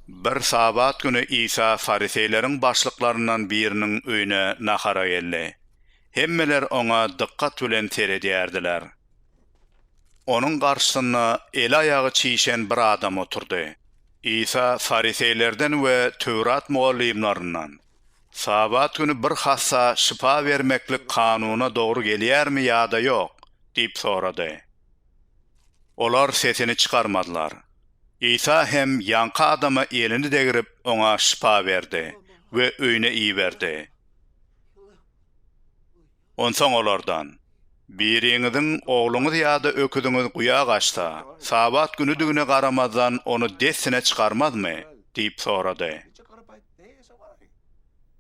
Bir Sabat güni Isa fariseýleriň başlyklaryndan biriniň öýüne nahara geldi. Hemmeler oňa dykgat bilen seredýärdiler. Onuň garşysynda eli-aýagy çişen bir adam oturdy. Isa fariseýlerden we Töwrat mugallymlaryndan, Sabat güni bir hassa şypa bermeklik kanuna dogry gelýärmi ýa-da ýok? diýip sorady. Olar sesini çykarmadylar. Isa hem ýaňky adama elini degrip, oňa şypa berdi we öýüne iberdi. Onsoň olardan, Biriňiziň ogluňyz ýa-da öküziňiz guýa gaçsa, Sabat günüdigine garamazdan ony dessine çykarmazmy? diýip sorady.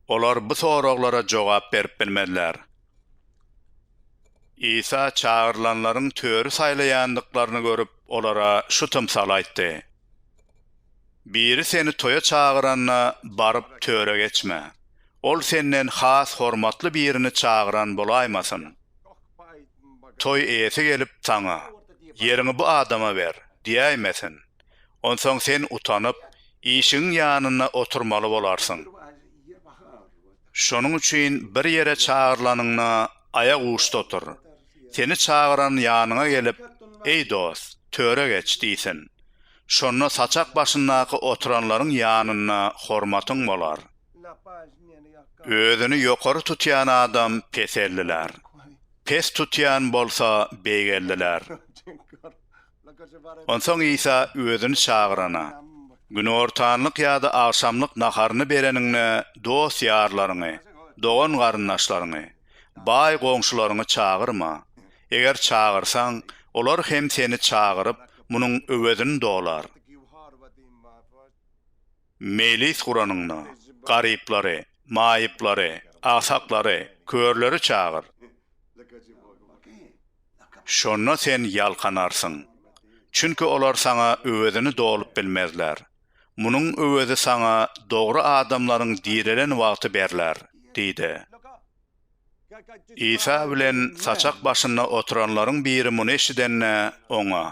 Olar bu soraglara jogap berip bilmediler. Isa çagyrylanlaryň töri saýlaýandyklaryny görüp, olara şu tymsaly aýtdy, Biri seni toýa çagyranda, baryp, töre geçme. Ol senden has hormatly birini çagyran bolaýmasyn. Toý eýesi gelip, saňa, Ýeriňi bu adama ber! diýäýmesin. Onsoň sen utanyp, işigiň ýanynda oturmaly bolarsyň. Şonuň üçin bir ýere çagyrlanyňda aýak uçda otur. Seni çagyran ýanyňa gelip, Eý dost, töre geç! diýsin. Şonda saçak başyndaky oturanlaryň ýanynda hormatyň bolar. Özüni ýokary tutýan adam peseldiler. Pes tutýan bolsa beýgeldiler. Onsoň Isa özüni çagyrana, Günortanlyk ýa-da agşamlyk naharyny bereniňde dost-ýarlaryňy, dogan-garyndaşlaryňy, baý goňşularyňy çagyrma. Eger çagyrsaň, olar hem seni çagyryp, munuň öwezini dolar. Mejlis guranyňda, garyplary, maýyplary, agsaklary, körleri çagyr. Şonda sen ýalkanarsyň. Çünki olar saňa öwezini dolup bilmezler. Munuň öwezi saňa dogry adamlaryň direlen wagty berler, diýdi. Isa bilen saçak başynda oturanlaryň biri muny eşidende, Oňa,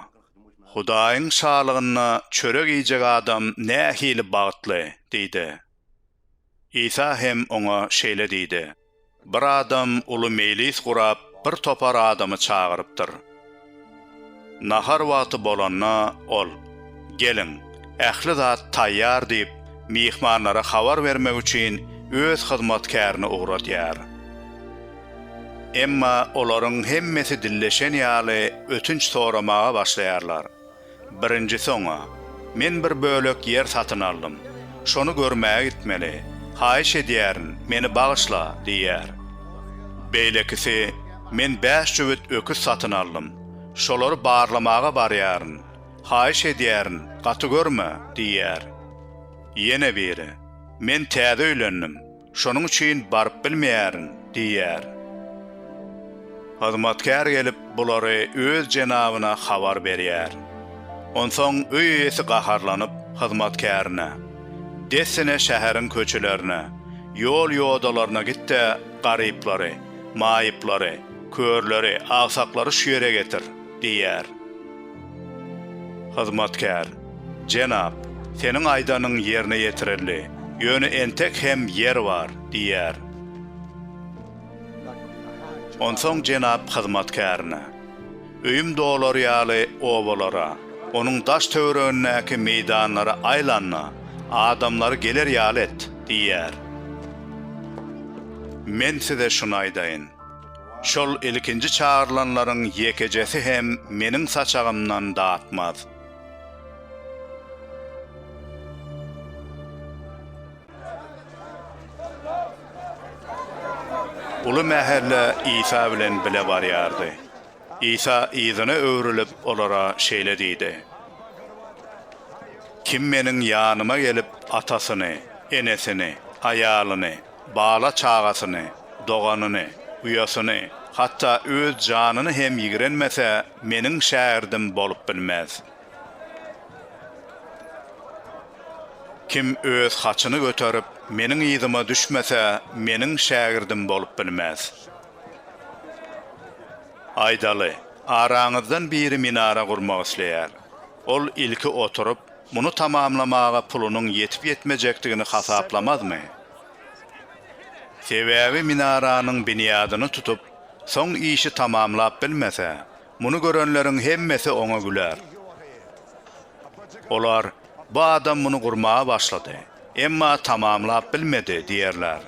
Hudaýyň Şalygynda çörek iýjek adam nähili bagtly! diýdi. Isa hem oňa şeýle diýdi, Bir adam uly meýlis gurap, bir topar adamy çagyrypdyr. Nahar wagty bolanda ol, Geliň, ähli zat taýýar diýip, myhmanlara habar bermek üçin öz hyzmatkärini ugradýar. Emma olaryň hemmesi dilleşen ýaly ötünç soramaga başlaýarlar. Birinjisi oňa, Men bir bölek ýer satyn aldym. Şony görmäge gitmeli. Haýyş edýärin, meni bagyşla! diýýär. Beýlekisi, Men bäş jübüt öküz satyn aldym. Şolary barlamaga barýaryn. Haýyş edýärin, gaty görme! diýýär. Ýene biri, Men täze öýlendim. Şonuň üçin baryp bilmeýärin diýýär. Hyzmatkär gelip, bulary öz jenabyna habar berýär. Onsoň öý eýesi gaharlanyp, hyzmatkärine, Dessine şäheriň köçelerine, ýol-ýodalaryna git-de, garyplary, maýyplary, körleri, agsaklary şu ýere getir! diýýär. Hyzmatkär, Jenap, seniň aýdanyň ýerine ýetirildi, ýöne entek hem ýer bar, diýýär. Onsoň jenap hyzmatkärine, Öýüm dolar ýaly obalara, onuň daş-töweregindäki meýdanlara aýlan-da, adamlary geler ýaly et, diýýär. Men size şuny aýdaýyn, Şol ilkinji çagyrylanlaryň ýekejesi hem meniň saçagymdan datmaz. Uly mähelle Isa bilen bile barýardy. Isa yzyna öwrülip, olara şeýle diýdi, Kim Meniň ýanyma gelip, atasyny, enesini, aýalyny, Bala-çagasyny, doganyny, uýasyny, hatda öz janyny hem ýigrenmese, meniň şägirdim bolup bilmez. Kim öz haçyny göterip, meniň yzyma düşmese, meniň şägirdim bolup bilmez. Aýdaly, araňyzdan biri minara gurmak isleýär. Ol ilki oturyp, Muny tamamlamaga pulunyň ýetip-ýetmejekdigini hasaplamazmy? Sebäbi minaranyň binýadyny tutup, soň işi tamamlap bilmese, muny görenleriň hemmesi oňa güler. Olar, Bu adam muny gurmaga başlady. Emma tamamlap bilmedi diýerler.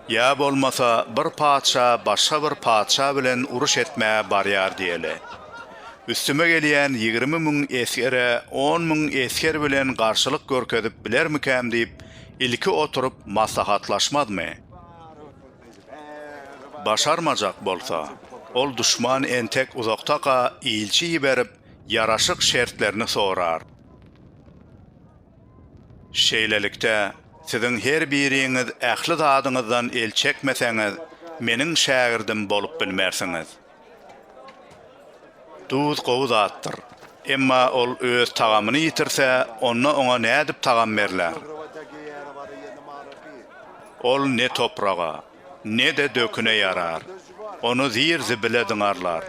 Ýa bolmasa bir patyşa başga bir patyşa bilen uruş etmä barýar diýeli. Üstüme gelýän ýigrimi müň esgere on müň esger bilen garşylyk görkezip bilermikäm diýip ilki oturyp maslahatlaşmazmy? Başarmajak bolsa, ol duşman entek uzakdaka ilçi iberip ýaraşyk şertlerini sorar. Şeýlelikde, siziň her biriňiz ähli zadyňyzdan el çekmeseňiz, Meniň şägirdim bolup bilmersiňiz. Duz gowy zatdyr. Emma ol öz tagamyny ýitirse, onda oňa nädip tagam berler? Ol ne topraga, ne-de döküne ýarar. Ony zir-zibile zyňarlar.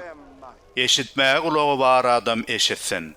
Eşitmäge gulagy bar adam eşitsin.